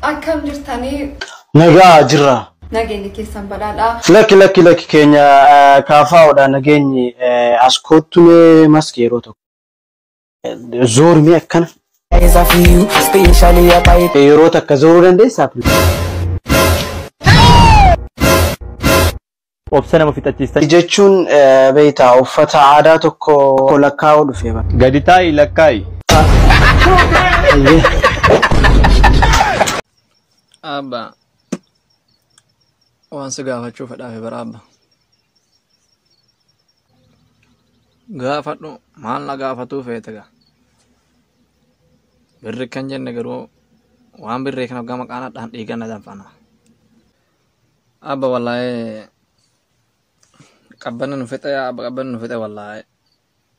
Akkam jirtanii Nagaa jirra. nageenyi keessan badhaadhaa. Lakki lakki lakki keenya eh, kaafaa'uudha nageenyi eh, as koottulee maski yeroo tokko. Zoormee akkana. Yeroo takka zooruu dandeessaaf. Obsa nama fixachiistan. Jechuun beektaa uffata aadaa tokko lakkaa'uu dhufee bara. Gadi taa'i lakkaa'i. Abba waan si gaafachuu fedhaafe bara abba. gaafadhu maal na gaafatuu feete gaa birri kan jenne garuu waan birrii kana gama qaana dhaan dhiigan na danfana abba wallaahi qabbanni nu fixe yaa abba qabbanni nu fixe wallaahi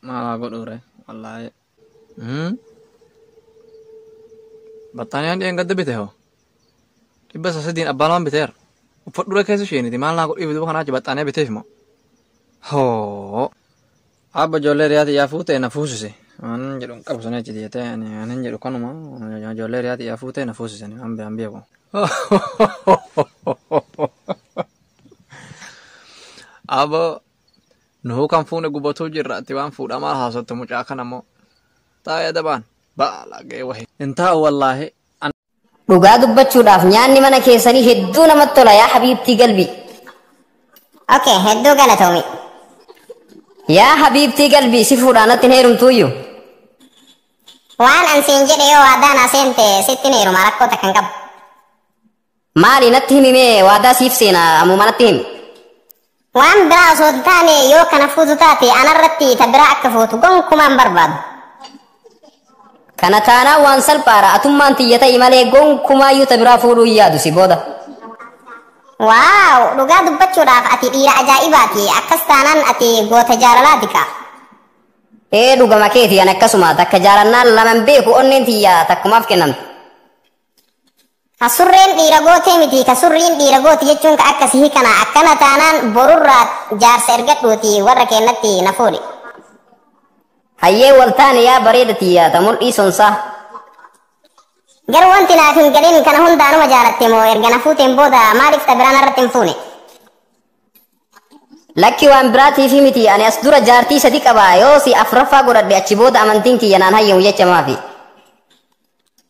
maal haa godhuure wallaahi Battaaniyaan dhiyeen gadda bite hoo? Dhibba isa sadiin abbaa lamaan biteera. Uffadhura keessa isheeniti maal naa godhiif duuba kanaa achi battaaniyaa biteef moo? Hoo! Abba ijoollee riyaati yaa fuutee na fuusise. Waan jedhu hin qabu sana achi jettee ani ani hin jedhu kanuma ijoollee riyaati yaa fuutee na fuusise ani waan beekan beeku. Abba Nuhuu kan fuune gubatuu jirra ati waan fuudhamaa haasottu mucaa kana moo. Taa'ee adabaan baalagee wahi. Hin taa'u wallaahi. Dhugaa dubbachuudhaaf nyaanni mana keessanii hedduu namatti tola yaa habiibtii galbii. Okay, hedduu galatoomi. Yaa habiibtii galbii si fuudhaa natti hin heerumtuuyyu. Waan an siin jedhe yoo waadaa naa seente sitti hin heeruma rakkoo takka hin qabu. Maali natti himi mee waadaa siif seena ammuma natti himi. Waan biraa osoo hin taane yoo kana fuutu taate anarratti ta biraa akka fuutu gonkumaan barbaadu. Kana taanaan waan salphaadha atummaan tiyya ta'i malee gonkumaayyuu ta biraa fuudhuu hin yaadu si booda. Waaw dhugaa dubbachuudhaaf ati dhiira ajaa'ibaati akkas taanaan ati goota jaalalaati kaa. Ee dhugama keeti an akkasuma takka jaalannaan laman beeku onneen tiyya takkumaaf kennamte. Ka surreen dhiira gootee miti ka surriin dhiira gooti jechuun ka akkasi hikana akkana taanaan borurraa jaarsa ergadhuuti warra keennatti na fuudhi. Hayyee waltaane yaa bareeda tiyyaa ta mul'ii sonsaa. Garuu wanti naaf hin galin kana hundaanuma jaalatte moo erga na fuuteen booda maaliif ta biraan irratti hin fuune? Lakki waan biraatiifi miti ani as dura jaartii sadi qaba yoo si afraffaa godhadhe achi booda amantiin kiyya naan hayyamu jecha maafi.